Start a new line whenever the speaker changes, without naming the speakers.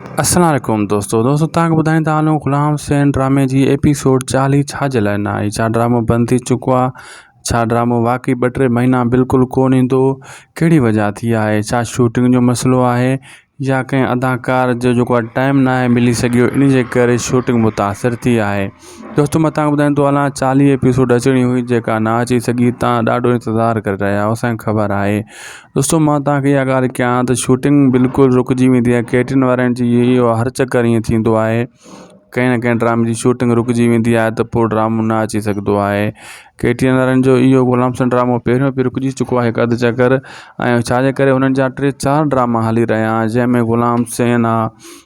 اسلام عليڪم دوستو دوستو تان ٻڌائين ته عالم غلام حسين ڊرامي جي ايپيسوڊ چاليهه ڇا جي لاء نه آئي ڇا ڊرامو بند ٿي چڪو آ ڇا ڊرامو واقعي ٻه ٽي مهينا بلڪل ڪون ايندو ڪهڙي وجهه ٿي آهي ڇا شوٽنگ جو مسئلو آهي يا ڪنهن اداڪار جو جيڪو آ ٽائم نه آهي ملي سگهيو انهي جي ڪري شوٽنگ متاثر ٿي آهي دوستو مان تانکي ٻڌايان ٿو هلان چاليهه ايپيسوڊ اچڻي هئي جيڪا نه اچي سگهي تان ڏاڍو انتظار ڪري رهيا آهيو اسانکي خبر آهي دوستو مان تانکي اها ڳالهه ڪيان ته شوٽنگ بلڪل رڪجي ويندي آهي ڪيٽرن وارن جي اهو هر چڪر ائين ٿيندو آهي ڪنهن نه ڪنهن ڊرامي جي شوٽنگ رڪجي ويندي آهي ته پوء ڊرامو نه اچي سگهندو آهي ڪيٽرن وارن جو اهو غلام سان ڊرامو پهريون به رڪجي چڪو آهي هڪ اڌ چڪر ۽ ڇاجي ڪري هنن جا ٽي چار ڊراما هلي رهيا آهن جنهن ۾ غلام سين آهي